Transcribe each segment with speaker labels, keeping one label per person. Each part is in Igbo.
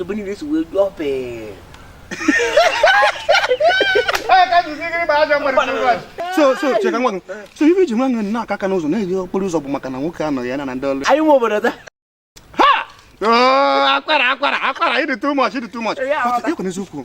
Speaker 1: ebe niile si wee jụọ pee
Speaker 2: so so cheka nwa so ife iji nwa nwe na aka aka n'ụzọ na-eji okporo ụzọ bụ maka na nwoke anọ ya na ndị ọrụ anyị nwe
Speaker 1: obodo taa
Speaker 2: akwara akwara akwara ị dị too much ị dị too much ịkwa n'eziokwu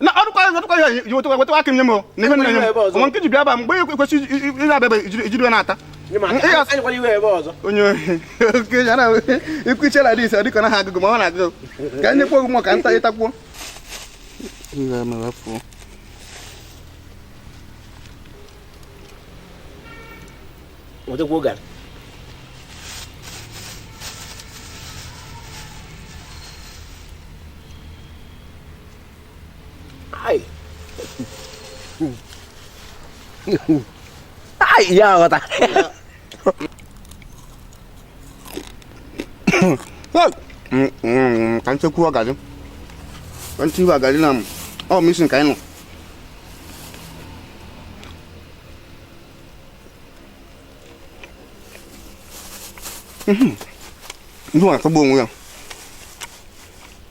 Speaker 1: na ọdụkwa
Speaker 2: ọdụkwa ya yi wetụkwa wetụkwa aka m nye m o na ihe nne nye m ọnwa nke ji bịa ba mgbe ekwe- kwesị iji- iji- iji abịa ijiri ijiri ya na-ata Ịga- anyịkwala
Speaker 1: iwe ebe ọzọ onye ohi oke
Speaker 2: ya na ikwu iche na dis ọ dịka ọ naghị agụ gị ma ọ na-agụ gị ka anyị nyekwa ogụmọ ka nta ịtakwuo nwetakwa oge
Speaker 1: Ay! Ay, iya ako
Speaker 2: ta. Ka nche kwuo gaji. Ka nche iwe gaji na ọ mission ka anyị nọ. Ndị nwa atọgbu onwe ya.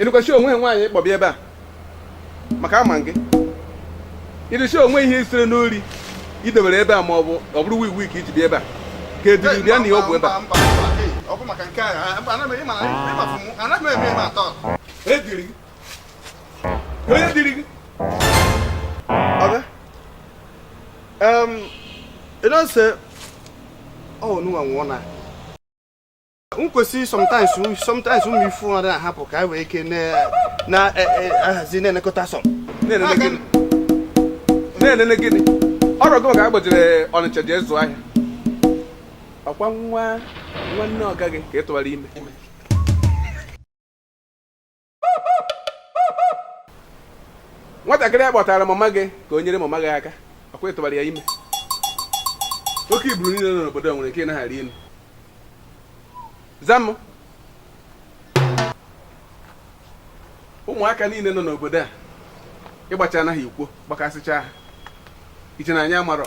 Speaker 3: ịnụkwachi onwe nwaanyị ị kpọ bi ebe a m aka ama gị ịrụchi onwe ihe i siri n'ori i dobere ebe a ma ọ bụ ọ bụrụ wii wii ka i ji bi ebe a ka eduru bịa na ihe ọgwụ ebe a ọ bụ maka nke a anaghị
Speaker 2: m eme eme atọ e diri
Speaker 3: gị onye diri
Speaker 2: gị ọga um, you know say oh no one wanna m kwesịrị sometimes sometimes ụmụ ifu ọrụ ahapụ ka anyị wee ike na-ahazi e, e, na-elekọta
Speaker 3: some na-elele gịnị ọrụ gị ka agbajiri Ọnịcha je zụọ ahịa ọ kwa nwa nwanne ọga gị ka ị tụwara ime nwatakịrị a kpọtara mama gị ka o nyere mama gị aka ọ kwa ị tụbara ya ime oke iburu niile nọ n'obodo a nwere nke ị nagha arị elu zam ụmụaka niile nọ n'obodo a ị gbachana ha i kwo gbakasịcha ha i che na anyị amarọ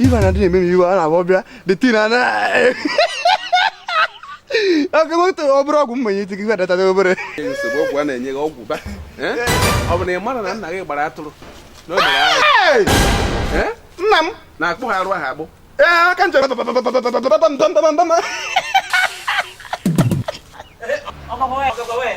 Speaker 2: ibe na ndị na-eme m iwe a na-abụ bịa the tin a na ọkụkọ ọ bụrụ ọgwụ mmanye iti gị data obere nsogbu ọgwụ a na-enye
Speaker 3: gị ọgwụ ba ọ bụ na ị mara na nna gị gbara atụrụ na o mere agha Eh?
Speaker 2: nna m na-akpụ ha arụ ahụ agbụ
Speaker 3: ee aka njem
Speaker 2: ọkọkọ wee ọkọkọ
Speaker 1: wee